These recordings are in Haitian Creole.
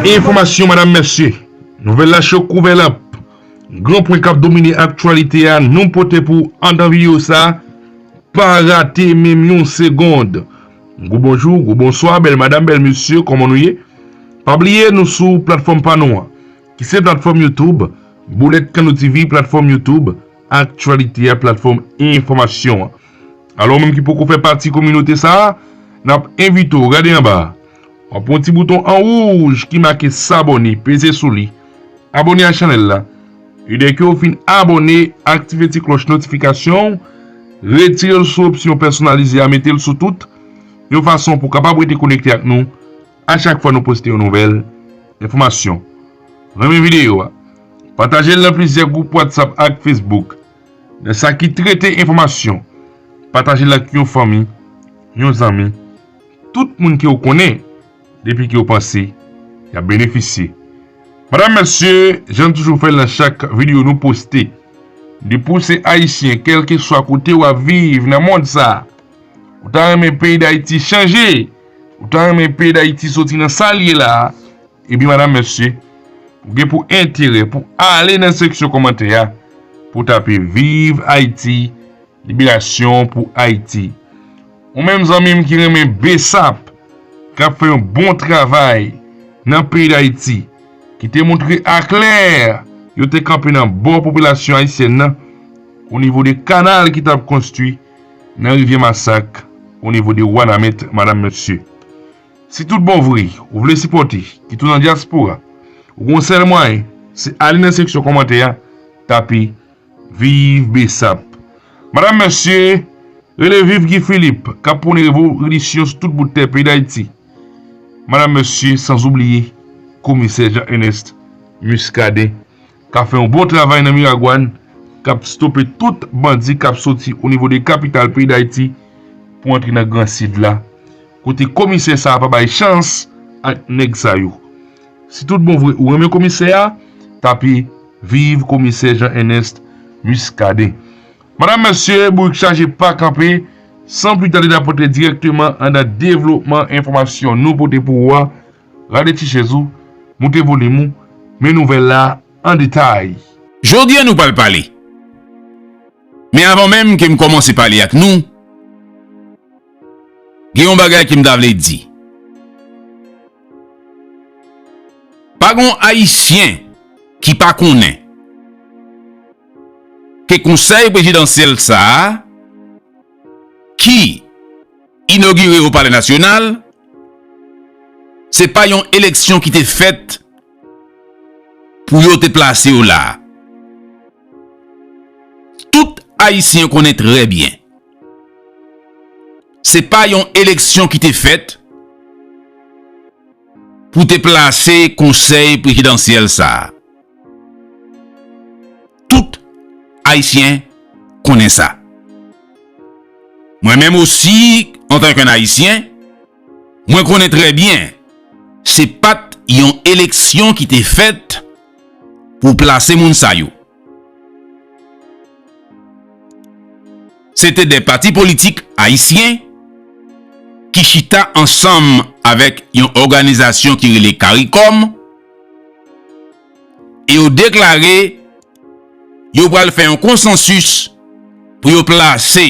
Enfòmasyon madam mesye, nouvèl la cho kou vè lanp. Gran pwen kap domine aktyalite a nou pote pou w andan videyo sa, pa rate menm yon segond. Gwo bonjou, gwo bonswa, bèl madam, bèl mesye, kòman nou ye? Pa bliye nou sou platfòm pa nou an, ki se platfòm YouTube Boulèt Kano TV, platfòm YouTube aktyalite a, platfòm enfòmasyon an. Alò ou menm ki poko fè pati kominote sa, nap envite w gade anba a, wap wè yon ti bouton an wouj ki make sabone, peze sou li. Abone ak chanèl la e dèke ou fin abone aktive ti klòch notifikasyon ou retire l sou opsyon pèsonalize a mete l sou tout yon fason pou kapab rete konekte ak nou a chak fwa nou poste yon nouvèl enfòmasyon renmen videyo a pataje l nan plizyè gwoup whatsapp ak facebook nan sa ki trete enfòmasyon pataje l ak yon fanmi yon zanmi tout moun ke ou konnen. Depi ke yo panse, yap benefisye. Madam mesye, jan n toujou fèl nan chak video nou poste, depi w se ayisyen kelkeswa kote wap viv nan mond sa, ou ta renmen peyi dayiti chanje, ou ta renmen peyi dayiti soti nan sal ye la, ebyen madam mesye, ou gen pou enterè pou ale nan seksyon komantè a, pou w tape viv ayiti, liberasyon pou ayiti. Ou menm zanmim ki renmen bsap kap fè yon bon travay nan peyi dayiti ki te moutre aklè yo te kanpe nan bò popilasyon ayisyèn nan o nivo de kanal ki tap konstwi nan rivyè masak o nivo de wanament madam mesye si tout bon vre ou vle sipòte ki tou nan dyaspora ou gon sèl mwayen se ale nan seksyon kòmantè a tape Viv bsap. Madam mesye rele viv Guy Philippe kap pwone revolisyon sou tout bout tè peyi dayiti madam mesye sanzoubliye komisè Jean Enest Muscadin kap fè yon bon travay nan miragwan kap stope tout bandi kap soti o nivo de kapital peyi dayiti pou antre nan gran sid la kote komisè sa pa bay chans ak nèg sa yo Si tout bon vre ou renmen komisè a, tape Viv komisè Jean Ernest Muscadin. Madam mesye, bourik chaje pa kanpe, san pli tande nap antre direkteman andan devlopman enfòmasyon nou pote pou ou a, rale ti chèz ou, moute volim ou, men nouvèl la an detay. Jodi a nou pral pale. Men avan menm ke m kòmanse pale ak nou. Gen yon bagay ke m ta vle di. Pa gen yon Ayisyen ki pa konnen ke konsèy prezidansyèl sa a ki inogire o palè nasyonal se pa yon eleksyon ki te fèt pou yo te plase yo la a. Tout Ayisyen konnen trè byen. Se pa yon eleksyon ki te fèt pou te plase konsèy prezidansyèl sa a. Tout Ayisyen konnen sa. Mwen menm osi, antank yon Ayisyen, mwen konnen trè byen se pat yon eleksyon ki te fèt pou plase moun sa yo. Se te 2 pati politik ayisyen ki chita ansanm avèk yon òganizasyon ki rele Caricom e yo deklare yo pral fè yon konsansis pou yo plase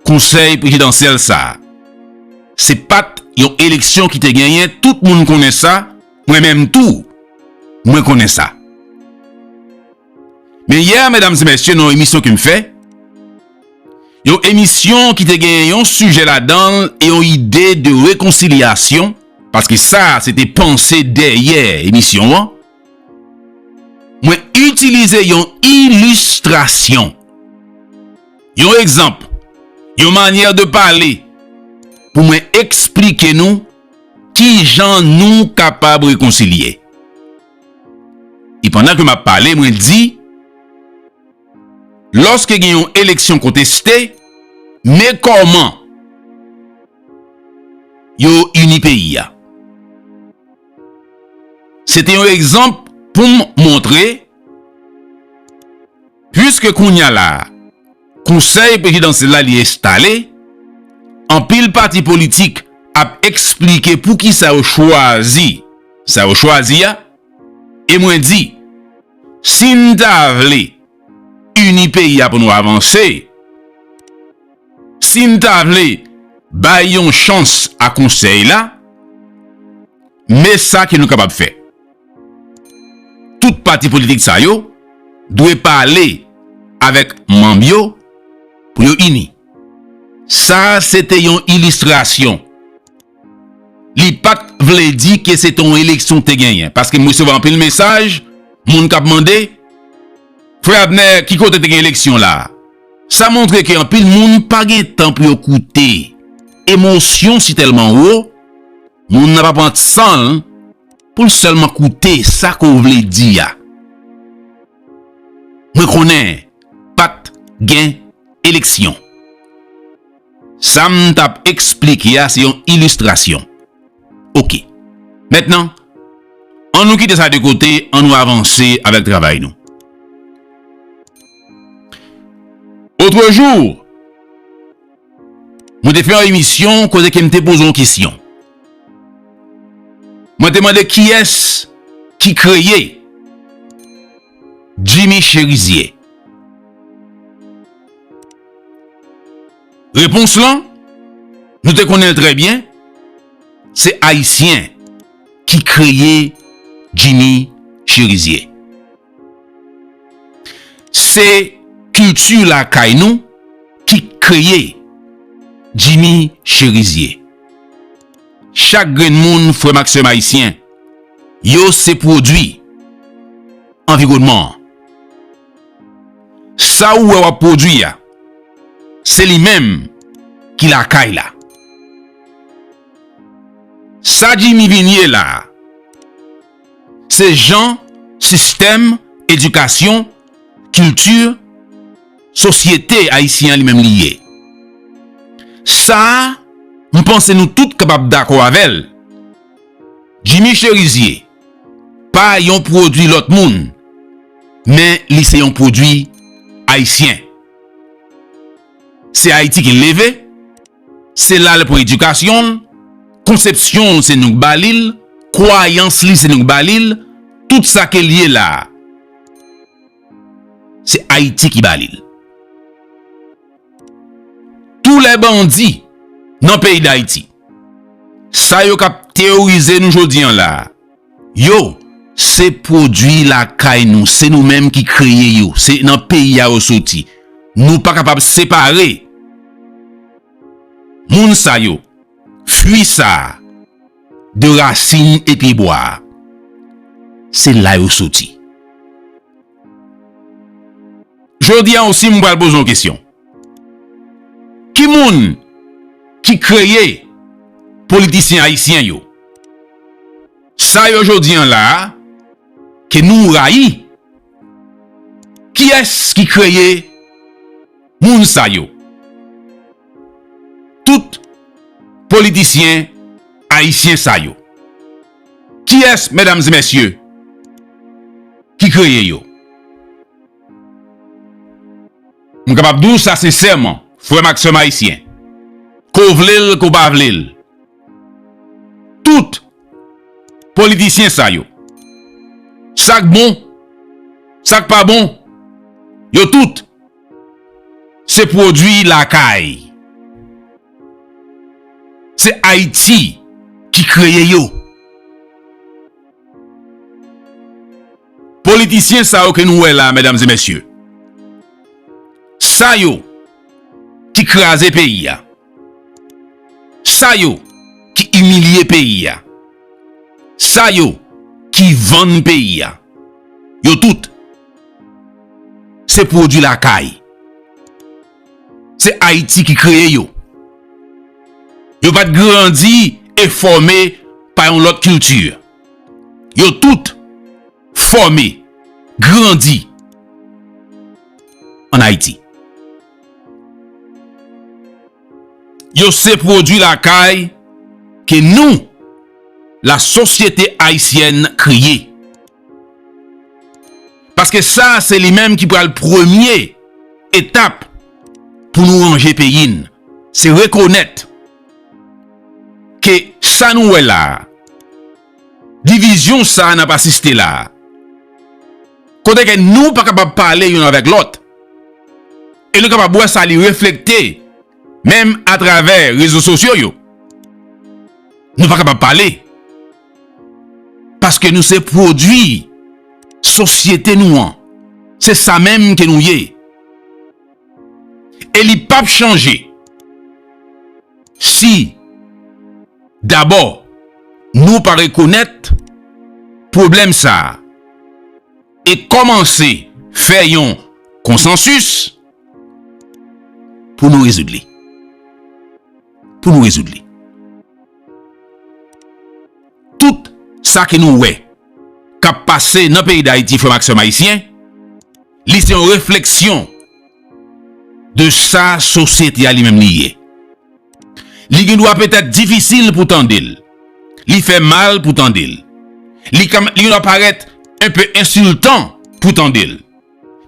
konsèy prezidansyèl sa. Se pat yon eleksyon ki te genyen, tout moun konnen sa. Mwen menm tou mwen konnen sa. Men yè medam e mesye nan yon emisyon ke m fè, yon emisyon ki te gen yon sijè ladan l e yon ide de rekonsilyasyon, paske sa se te panse dèyè emisyon an, mwen itilize yon ilistrasyon, yon egzanp, yon manyè de pale pou mwen eksplike nou, Ki jan nou kapab rekonsilye? E pandan ke m ap pale, mwen di, Lòske gen yon eleksyon konteste, men kòman yo ini peyi a. Se te yon egzanp pou m montre, puiske kounya la, Konsèy prezidansyèl la li enstale, anpil pati politik ap eksplike poukisa yo chwazi sa yo chwazi a, e mwen di, si n ta vle ini peyi a pou nou avanse, si n ta vle bay yon chans a konsèy la, men sa ke nou kapab fè. Tout pati politik sa yo dwe pale avèk manm yo pou yo ini. Sa a se te yon ilistrasyon. Li pa t vle di ke se te yon eleksyon te genyen. Paske m resevwa anpil mesaj moun k ap mande, Frè Abner, ki kote te gen eleksyon la a? Sa montre ke anpil moun pa gen tan pou yo koute. Emosyon si tèlman wo, moun nan pa pran san l. Pou l sèlman koute sa ke w vle di a. Mwen konnen pa t gen eleksyon. Sa m t ap esplike a se yon ilistrasyon. Ok. Mentnan, an nou kite sa de kote, an nou avanse avèk travay nou. Otrejou! Mwen te fè yon emisyon kote ke m te poze yon kesyon. Mwen te mande kiyès ki kreye Jimmy Cherizier. Repons lan, nou te konnen l trè byen, se Ayisyen ki kreye Jimmy Cherizier. Se kilti lakay nou ki kreye Jimmy Cherizier. Chak grenn moun, frè m ak sè m ayisyen, yo se pwodui anviwònman an. Sa ou wè w ap pwodui a, se li menm ki lakay la. Sa Jimmy vin ye la a. Se jan sistèm edikasyon, kilti, sosyete ayisyen an li menm li ye. Sa a, m panse nou tout kapab dakò avè l. Jimmy Cherizier pa yon pwodui lòt moun, men li se yon pwodui ayisyen. Se Ayiti ki l leve. Se la l pran edikasyon l, konsepsyon l se nou k ba li l, kwayans li se nou k ba li l, tout sa ke l ye la a, se Ayiti ki ba li l. Tou lè bandi nan peyi Dayiti, sa yo k ap teyorize nou jodi an la a, Yo, se pwodui lakay nou, se nou menm ki kreye yo, se nan peyi a yo soti. Nou pa kapab separe moun sa yo, fwi sa a, de rasin e pyebwa a. Se la yo soti. Jodi a, si m pral poze yon kesyon. Ki moun ki kreye politisyen ayisyen yo? Sa yo jodi an la a ke nou rayi, kiyès ki kreye moun sa yo? Tout politisyen ayisyen sa yo, kiyès medam e mesye ki kreye yo? M kapab di w sa sensèman, frè m ak sè m ayisyen, ke w vle l ke w pa vle l, tout politisyen sa yo, sa k bon, sa k pa bon, yo tout se pwodui lakay, se Ayiti ki kreye yo. Politisyen sa yo ke nou wè la medam e mesye, sa yo ki kraze peyi a, sa yo ki imilye peyi a, sa yo ki vann peyi a, yo tout se pwodwi lakay. Se Ayiti ki kreye yo. Yo pa t grandi e fòme pa yon lòt kilti. Yo tout fòme, grandi an Ayiti. Yo se pwodui lakay ke nou, la sosyete ayisyèn kreye. Paske sa se li menm ki pral premye etap pou nou ranje peyi n. Se rekonèt ke sa nou wè la a, divizyon sa a n ap asiste la a, kote ke nou pa kapab pale youn avèk lòt, e nou kapab wè sa li reflekte menm atravè rezo sosyo yo, nou pa kapab pale. Paske nou se pwodwi sosyete nou an. Se sa menm ke nou ye. E li pap chanje. Si, dabò, nou pa rekonèt pwoblèm sa a e kòmanse fè yon konsansis pou nou rezoud li. Pou nou rezoud li. Tout sa ke nou wè k ap pase nan peyi Dayiti frè m ak sè m ayisyen, li se yon refleksyon de sa sosyete a li menm li ye. Li gen dwa petèt difisil pou tande l, li fè mal pou tande l, li gen dwa parèt enpe ensiltan pou tande l,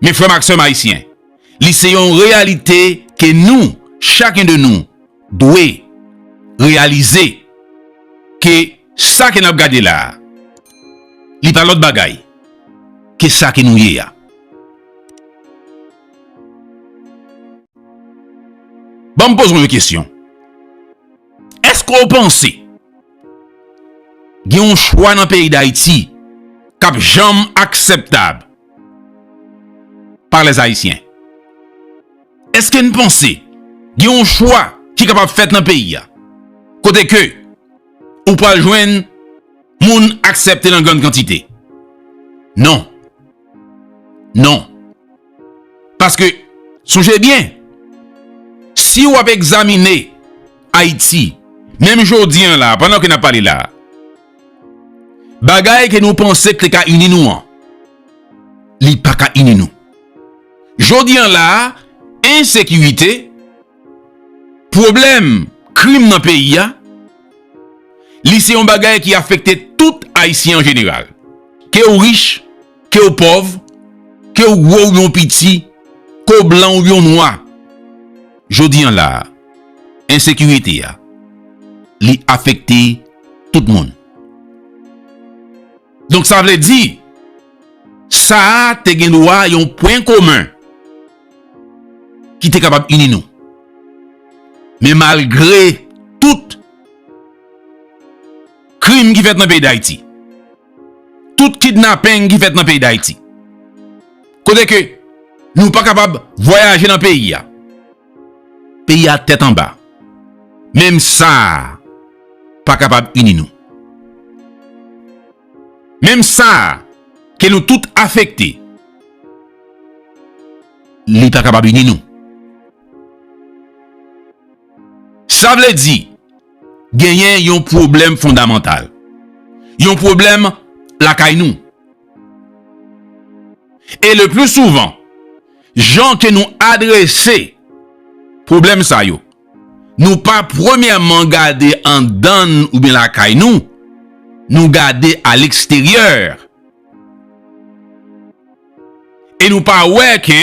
men frè m ak sè m ayisyen, li se yon reyalite ke nou, chaken de nou, dwe reyalize ke sa ke n ap gade la a, li pa lòt bagay ke sa ke nou ye a. Ban m poze w yon kesyon. Èske w panse gen yon chwa nan peyi Dayiti k ap janm aksèptab pa lèzayisyen? Eske n panse gen yon chwa ki kapab fèt nan peyi a kote ke ou pral jwenn moun aksepte nan grann kantite? Non. Non. Paske, sonje byen, si w ap egzamine Ayiti, menm jodi an la, pandan ke n ap pale la, bagay ke nou panse k te ka ini nou an, li pa ka ini nou. Jodi an la a, ensekirite, pwoblèm krim nan peyi a, li se yon bagay ki afekte tout Ayisyen an jeneral. Ke ou rich, ke ou pòv, ke ou gwo oubyen ou piti, ke ou blan oubyen ou nwa, jodi an la a, ensekirite a, li afekte tout moun. Donk sa vle di, sa a te gen dwa yon pwen komen ki te kapab ini nou. Men malgre tout krim ki fèt nan peyi Dayiti, tout kidnapeng ki fèt nan peyi Dayiti, kote ke nou pa kapab vwayaje nan peyi a, Peyi a tèt anba. Menm sa a pa kapab ini nou. Menm sa a ke nou tout afekte. Li pa kapab ini nou. Sa vle di genyen yon pwoblèm fondamantal. Yon pwoblèm lakay nou. E le pli souvan. Jan ke nou adrese pwoblèm sa yo, nou pa premyèman gade andann oubyen lakay nou, nou gade aleksteryè. E nou pa wè ke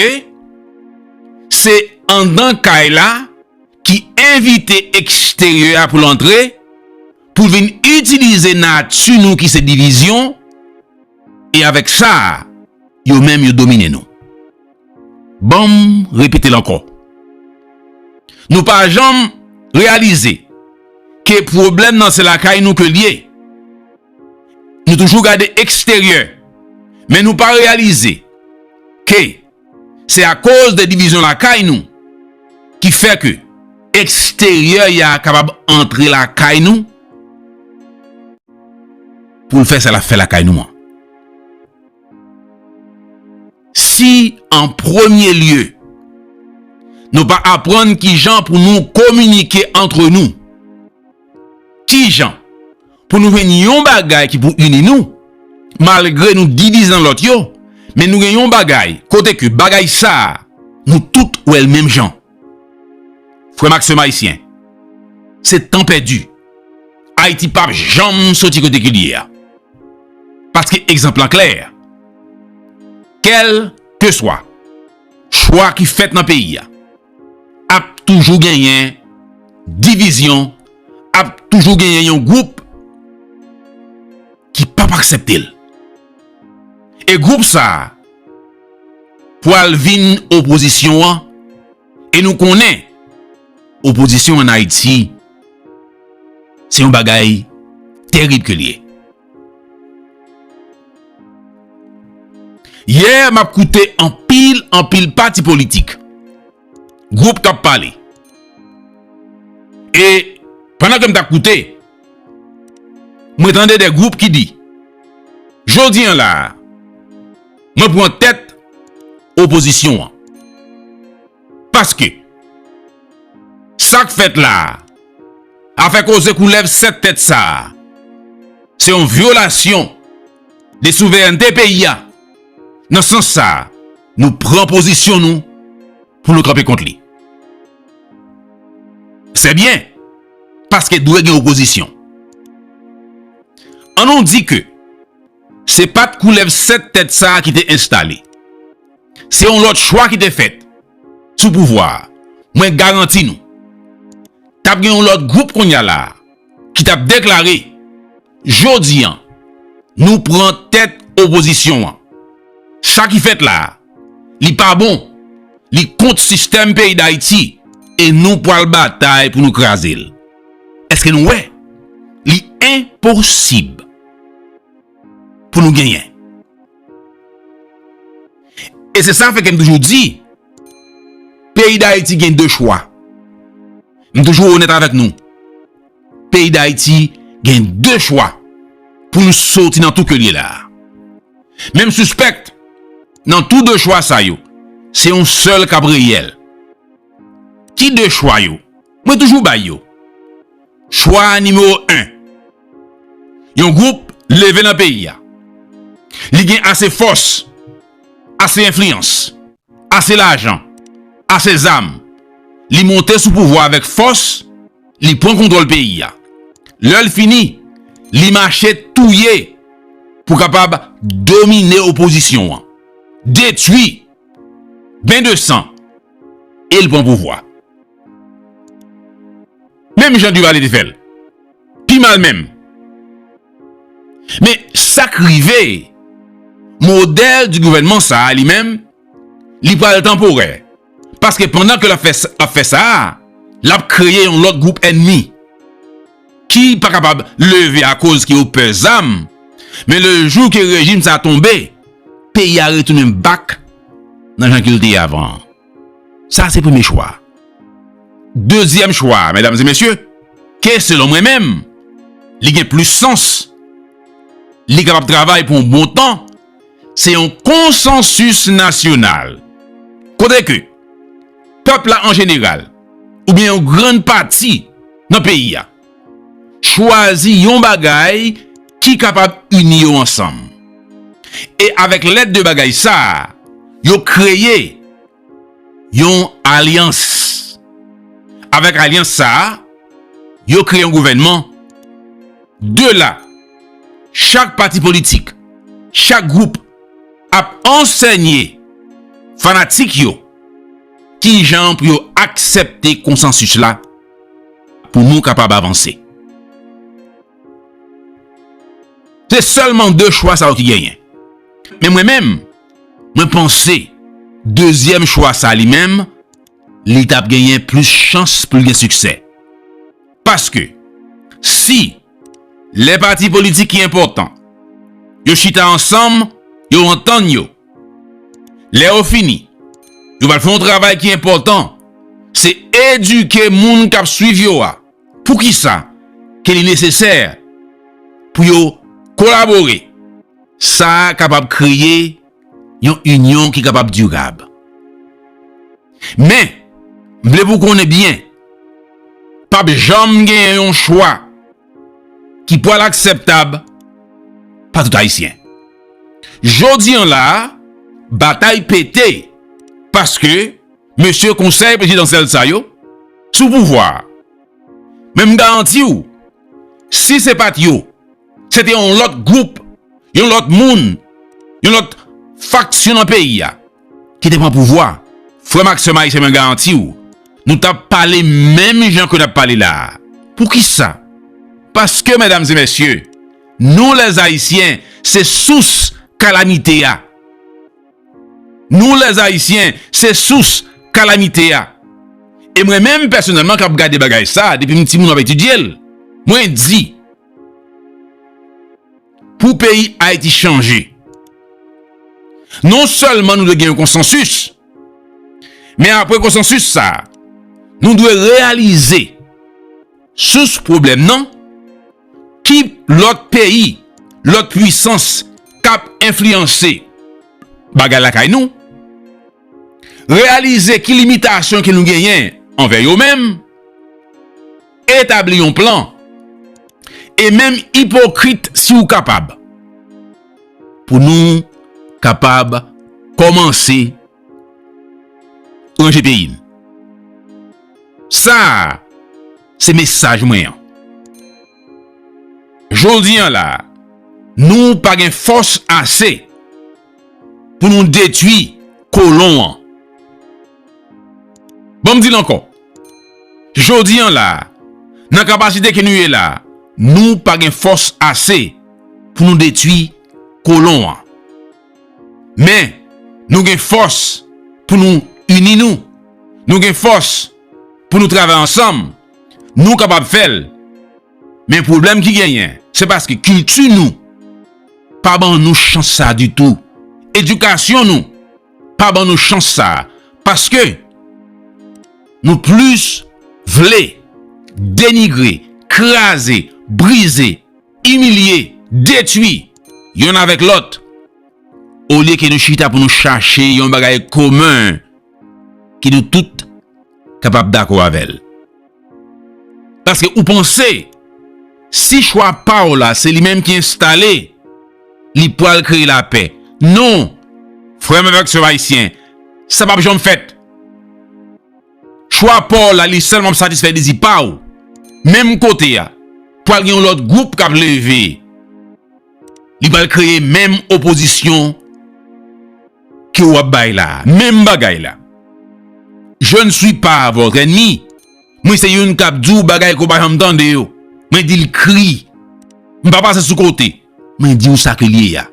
se andan kay la ki envite eksteryè a pou l antre, pou l vin itilize nati nou ki se divizyon, E avèk sa, yo menm yo domine nou. Ban m repete l ankò. Nou pa janm reyalize ke pwoblèm nan se lakay nou ke l ye. Nou toujou gade eksteryè men nou pa reyalize ke. Se akoz de divizyon lakay nou ki fè ke eksteryè ya kapab antre lakay nou pou l fè sa l ap fè lakay nou an. Si an premye lye nou pa aprann kijan pou nou kominike antre nou, Kijan pou nou jwenn yon bagay ki pou ini nou malgre nou divize nan lòt yo men nou gen yon bagay kote ke bagay sa nou tout wèl menm jan frè m ak sè m ayisyen se tan pèdi ayiti pap janm soti kote ke li ye a paske egzanp lan klè kèlkeswa chwa ki fèt nan peyi a. Ap toujou genyen divizyon, ap toujou genyen yon gwoup ki pap aksepte l. E gwoup sa a pwal vin opozisyon an e nou konnen opozisyon an Ayiti se yon bagay terib ke l ye. Yè m ap koute anpil anpil pati politik, gwoup k ap pale. E pandan ke m t ap koute, mwen tande de gwoup ki di, jodi an la a, mwen pran tèt opozisyon an. Paske, sa k fèt la a, afè koze koulèv 7 tèt sa a, se yon vyolasyon de souverènte peyi a, nan sans sa a, nou pran pozisyon nou pou nou kanpe kont li. Sè byen, paske dwe gen opozisyon. An nou di ke, se pa t koulèv 7 tèt sa a ki te enstale. Se yon lòt chwa ki te fèt sou pouvwa a. Mwen garanti nou, t ap gen yon lòt gwoup kounye a la a ki t ap deklare, Jodi an, nou pran tèt opozisyon an. Sa ki fèt la a, li pa bon, li kont sistèm peyi Dayiti e nou pral batay pou nou kraze l. Èske nou wè? Li enposib pou nou genyen E se sa fè ke m toujou di, peyi Dayiti gen 2 chwa. M toujou onèt avèk nou. Peyi Dayiti gen 2 chwa pou nou soti nan tou ke li la. Men m sispèk nan tou 2 chwa sa yo, se yon sèl kap reyèl. Ki 2 chwa yo? Mwen toujou bay yo. Chwa nimewo 1. Yon gwoup leve nan peyi a. Li gen ase fòs, ase enfliyans, ase lajan, ase zam. Li monte sou pouvwa avèk fòs, li pran kontwòl peyi a. Lè l fini, li mache touye pou kapab domine opozisyon an. Detui. Ben de san. E l pran pouvwa. Menm jan Duvalier te fè l. Pi mal menm. Men sa k rive, modèle du gouvernement sa a li menm, li pral tanporè. Paske pandan ke l ap fè sa a, l ap kreye yon lòt gwoup ènmi. Ki pa kapab leve akoz ke yo pè zam. Men le jou ke rejim sa a tonbe, peyi a retounen back nan jan ke l te ye avan an. Sa se premye chwa. Dezyèm chwa, medam e mesye, ke selon mwen menm, li gen plis sans, li kapab travay pou yon bon tan, se yon konsansis nasyonal. Kote ke, pèp la an jeneral, oubyen yon grann pati nan peyi a, chwazi yon bagay ki kapab ini yo ansanm. E avèk lèd de bagay sa a, yo kreye yon alyans. Avèk alyans sa a, yo kreye yon gouvènman. De la, chak pati politik, chak gwoup ap ansènye fanatik yo ki jan pou yo aksèpte konsansis la. pou nou kapab avanse. Se sèlman 2 chwa sa yo ki genyen. Men mwen menm, mwen panse, dezyèm chwa sa li menm, li tap genyen plis chans pou l gen siksè. Paske, si, Lè pati politik ki enpòtan yo chita ansanm, yo antann yo. Lè yo fini, yo pral fè yon travay ki enpòtan, se edike moun k ap suiv yo a pou ki sa ke li nesesè pou yo kolabore. Sa kapab kreye. yon inyon ki kapab dirab. Men, m vle pou konnen byen, pa p janm gen yon chwa ki pwal akseptab pa tout Ayisyen. Jodi an la, batay pete, paske mesye konsèy prezidansyèl sa yo sou pouvwa. Men m garanti w, si se pa t yo, Se te yon lòt gwoup, yon lòt moun, yon lòt faksyon nan peyi a ki te pran pouvwa. Frè m ak sè m ayisyen mwen garanti w, nou t ap pale menm jan ke n ap pale la a. Poukisa? Paske medam e mesye, nou lè ayisyen se sous kalamite a. Nou lè ayisyen se sous kalamite a. E mwen menm pèsonèlman k ap gade bagay sa a depi m ti moun m ap etidye l, mwen di Pou peyi Ayiti chanje, non sèlman nou dwe gen yon konsansis, men apre konsansis sa, nou dwe reyalize sous pwoblèm nan, ki lòt peyi, lòt pwisans k ap enfliyanse bagay lakay nou, reyalize ki limitasyon ke nou genyen anvè yo menm, Etabli yon plan. E menm ipokrit si ou kapab. Pou nou kapab kòmanse ranje peyi n. Sa a se mesaj mwen an. Jodi an la a, nou pa gen fòs ase pou nou detwi kolon an. Bon m di l ankò, jodi an la a, nan kapasite ke nou ye la a, nou pa gen fòs ase pou nou detwi kolon an. Men, nou gen fòs pou nou ini nou, nou gen fòs pou nou travay ansanm, nou kapab fè l. Men pwoblèm ki genyen, se paske kilti nou pa ban nou chans sa a ditou, edikasyon nou. pa ban nou chans sa a paske nou plis vle denigre, kraze, brize, imilye, detwi yonn avèk lòt olye ke nou chita pou nou chache yon bagay komen ke nou tout kapab dakò avè l. Paske ou panse, si chwa pa w la se li menm ki enstale, li pral kreye lapè. Non! Frè m avèk sè m ayisyen, sa pap janm fèt. Chwa pa w la li sèlman ap satisfè dezi pa w. Menm kote a, pral gen yon lòt gwoup k ap leve. Li pral kreye menm opozisyon ke ou ap bay la a. Menm bagay la. Je ne suis pas votre ennemi. Mwen se youn k ap di w bagay ke w pa janm tande yo. Mwen di l kri. M pa pase sou kote. Mwen di w sa ke l ye a.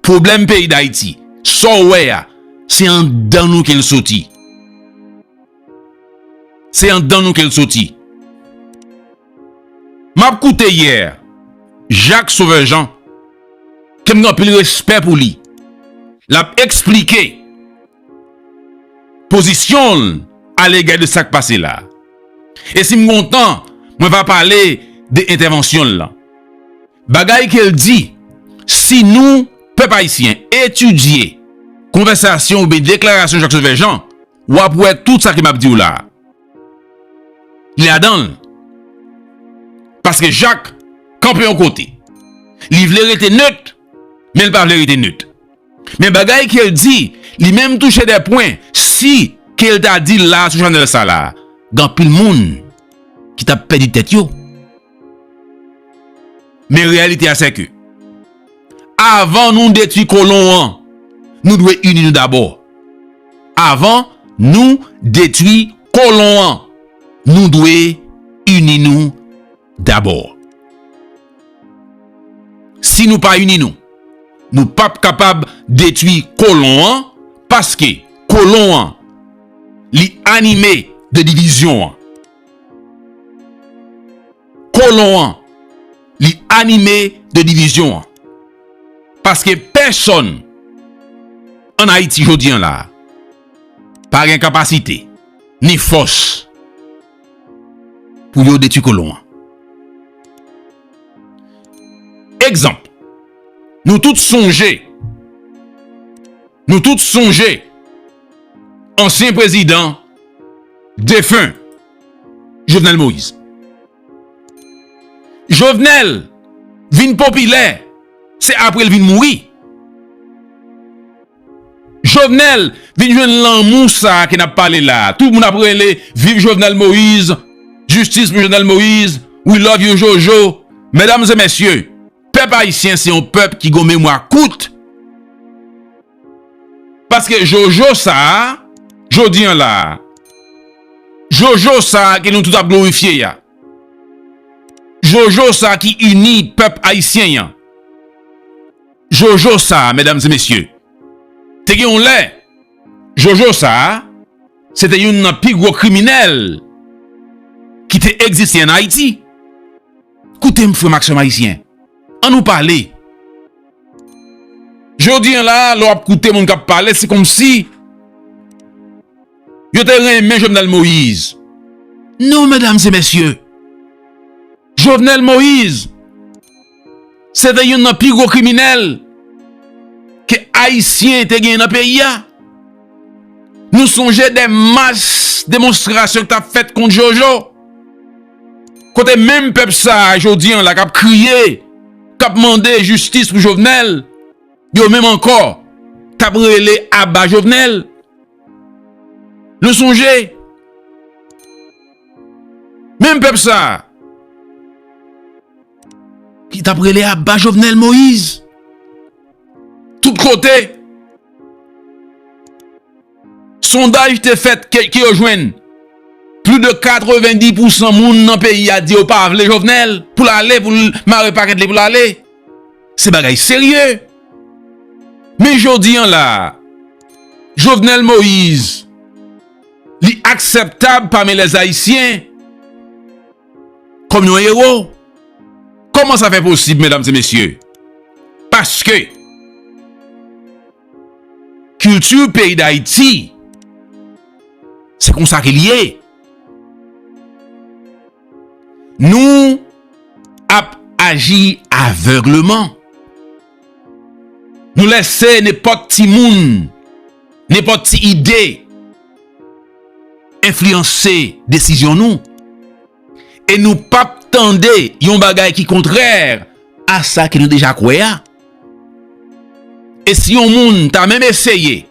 Pwoblèm peyi Dayiti, sa w wè a, se anndan nou ke l soti. Se andan nou kel soti. Map koute yè Jacques Sauveur Jean kem gen anpil respè pou li. Lap eksplike pozisyon l alega de sak pase la. E si m gon tan mwen va pale de entèvansyon l lan. Bagay kel di si nou pèp ayisyen etidye konvèsasyon oubyen deklarasyon Jacques Sauveur Jean. w ap wè tout sa ke m ap di w la a, li ladan l. Paske Jak kanpe yon kote. Li vle rete nöt, men li pa vle rete nöt. Men bagay ke l di, li menm touche dè pwen, si ke l ta di l la a sou chanèl sa la a, gen anpil moun ki t ap pèdi tèt yo. Men reyalite a sè ke. Avan nou detwi kolon an, nou dwe ini nou dabò. Avan nou detwi kolon an, nou dwe ini nou dabò. Si nou pa ini nou, nou pa p kapab detwi kolon an paske kolon an li anime de divizyon an. kolon an li anime de divizyon an paske pèsòn an ayiti jodi an la pa gen kapasite ni fòs pou yo detwi kolon an egzanp nou tout sonje nou tout sonje ansyen prezidan defen Jovenel Moïse. Jovenel vin popilè se apre l vin mouri. Jovenel vin jwenn lanmou sa ke n ap pale la. Tout moun ap rele viv Jovenel Moïse, jistis pou Jovenel Moïse, we love you Jojo. Medam e mesye, pèp ayisyen se yon pèp ki gon memwa kout. Paske Jojo sa a, jodi an la a, Jojo sa a ke nou tout ap glorifye a, Jojo sa a ki ini pèp Ayisyen an, Jojo sa a, medam e mesye, te gen yon lè, Jojo sa a, se te youn nan pi gwo kriminèl ki te egziste an Ayiti. Koute m frè m ak sè m Ayisyen, an nou pale. Jodi an la, lè w ap koute moun k ap pale, se kòmsi yo te renmen Jovenel Moïse. Non, medam e mesye, Jovenel Moïse se te youn nan pi gwo kriminèl ke Ayisyen te genyen nan peyi a. Nou sonje de mach demonstrasyon ki t ap fèt kont Jojo. Kote menm pèp sa a jodi an la kap kriye, kap mande jistis pou Jovenel, yo menm ankò kap rele aba Jovenel. Nou sonje, menm pèp sa a, ki tap rele aba Jovenel Moïse, tout kote. Sondaj te fèt ke yo jwenn plis de 90 pousan moun nan peyi a di yo pa vle Jovenel pou l ale pou l mare pakèt li pou l ale. Se bagay serye. Men jodi an la a Jovenel Moise li aksèptab pami lè zayisyen kòm yon ewo. Kòman sa fè posib medam se mesye? Paske. Kilti peyi Dayiti, se kon sa ke li ye. Nou ap aji avègleman. Nou lese nepòt ti moun, nepòt ti ide, enfliyanse desizyon nou. E nou pap tande yon bagay ki kontrè a sa ke nou deja kwè a. E si yon moun ta menm eseye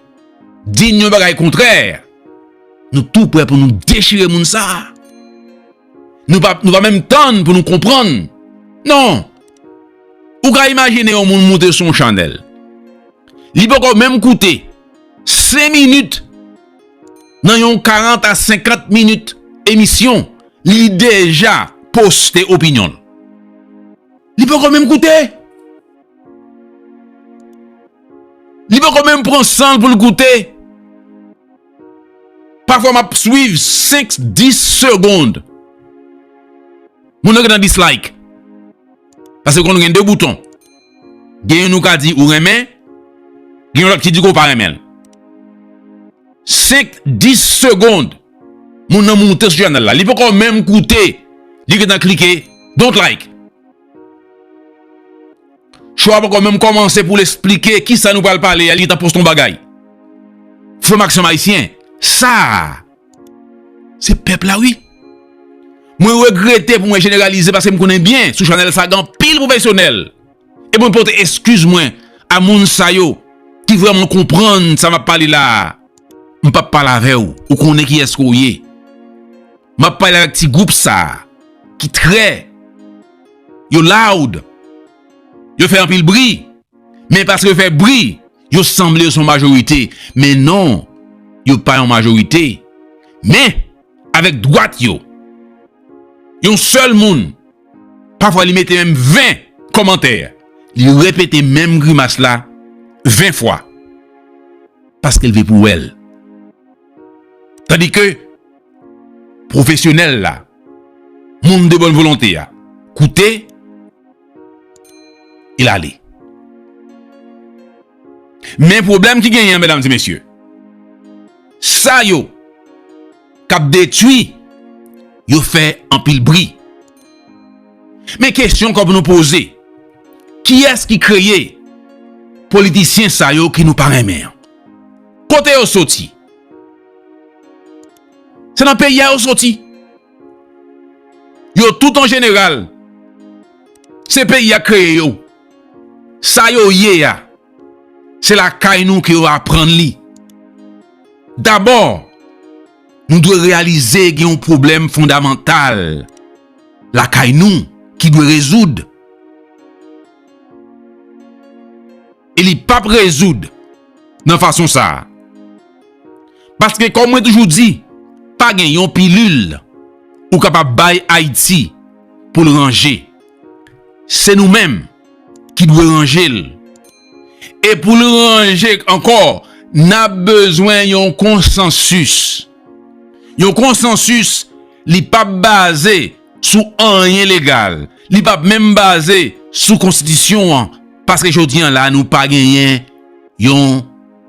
di n yon bagay kontrè, nou tou prè pou nou dechire moun sa a. Nou pa menm tann pou nou konprann. Non! Ou ka imajine yon moun moute sou yon chanèl. Li poko menm koute 5 minit. Nan yon 40 a 50 minit emisyon, li deja poste opinyon l. Li poko menm koute. Li poko menm pran san l pou l koute. Pafwa m ap swiv 5, 10 segond. Moun nan gen tan dislike. Pase konn gen 2 bouton. Gen youn ou ka di ou renmen, gen yon lòt ki di ke w pa renmen l. Senk, dis segond, moun nan moute sou chanèl la. Li poko menm koute, li gentan klike don't like. Show a poko menm kòmanse pou l esplike kisa nou pral pale a, li gentan poste yon bagay. Frè m ak sè m ayisyen, sa a! Se pèp la wi. Mwen regrete pou mwen jeneralize paske m konnen byen sou chanèl sa gen anpil pwofesyonèl. E mwen pote eskiz mwen a moun sa yo ki vrèman konprann sa m ap pale la a. M p ap pale avè w, ou konnen kiyès ke w ye. M ap pale avèk ti gwoup sa a ki trè, yo loud, yo fè anpil bri, men paske yo fè bri. Yo sanble yo son majorite, men non, yo pa yon majorite. Men, avèk dwat yo, yon sèl moun, pafwa li mete menm 20 kòmantè, li repete menm grimas la 20 fwa, paske l vle pou wè l. Tandike, pwofesyonèl la, moun de bòn volonte a, koute, Il ale. Men pwoblèm ki genyen medam di mesye. Sa yo kap detui yo fè anpil bri. Men kesyon kòp nou poze. Kiyès ki kreye politisyen sa yo ki nou pa renmen an? Kote yo soti? Se nan peyi a yo soti? Yo tout an jeneral, se peyi a kreye yo. Sa yo ye a, se lakay nou ke yo aprann li. Dabò, nou dwe reyalize gen yon pwoblèm fondamantal lakay nou ki dwe rezoud. E li pap rezoud nan fason sa a. Paske kòm mwen toujou di, pa gen yon pilil ou kapab bay Ayiti pou l ranje. Se nou menm ki dwe ranje l. E pou l ranje ankò, n ap bezwen yon konsansis. Yon konsansis li pap baze. sou anyen legal, li p ap menm baze sou konstitisyon an, paske jodi an la nou pa genyen yon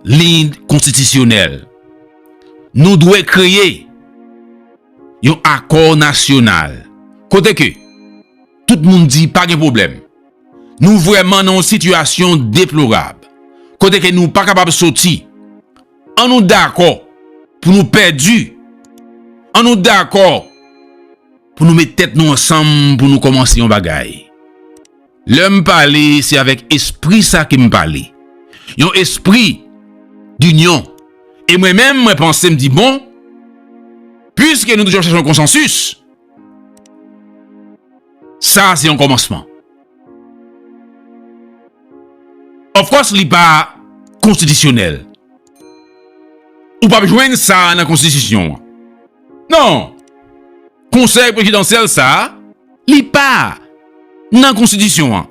liy konstitisyonèl. Nou dwe kreye yon akò nasyonal, kote ke tout moun di pa gen pwoblèm. Nou vrèman nan yon sitiyasyon deplorab, kote ke nou pa kapab soti. An nou dakò pou nou pèdi, an nou dakò pou nou met tèt nou ansanm pou nou kòmanse yon bagay. Lè m pale, se avèk espri sa ke m pale. Yon espri dinyon. E mwen menm mwen panse m di bon, piske nou toujou ap chache yon konsansis, sa se yon kòmansman. Of course li pa konstitisyonèl. Ou pap jwenn sa nan konstitisyon an. Non! Konsèy prezidansyèl sa a, li pa nan konstitisyon an.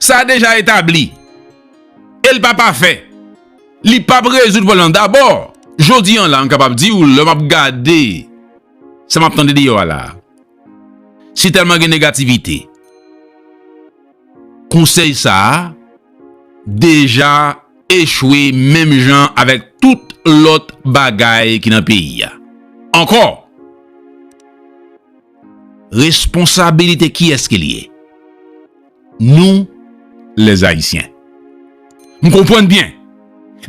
Sa deja etabli. E l pa pafè. Li pap rezoud pwoblèm nan. Dabò, jodi an la m kapab di ou lè m ap gade sa m ap tande deyò a la a. Si tèlman gen negativite, konsèy sa a deja echwe menm jan avèk tout lòt bagay ki nan peyi a. Ankò, responsabilite kiyès ke li ye? Nou les haïtiens. M konprann byen.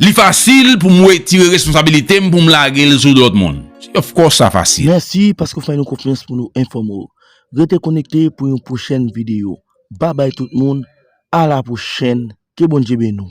Li fasil pou m wetire responsabilite m pou m lage l sou lòt moun. Of course sa fasil. Mèsi paske w fè nou konfyans pou nou enfòme w. Rete konekte pou yon pwochèn videyo. Babay tout moun, a la pwochèn, ke Bondye beni w.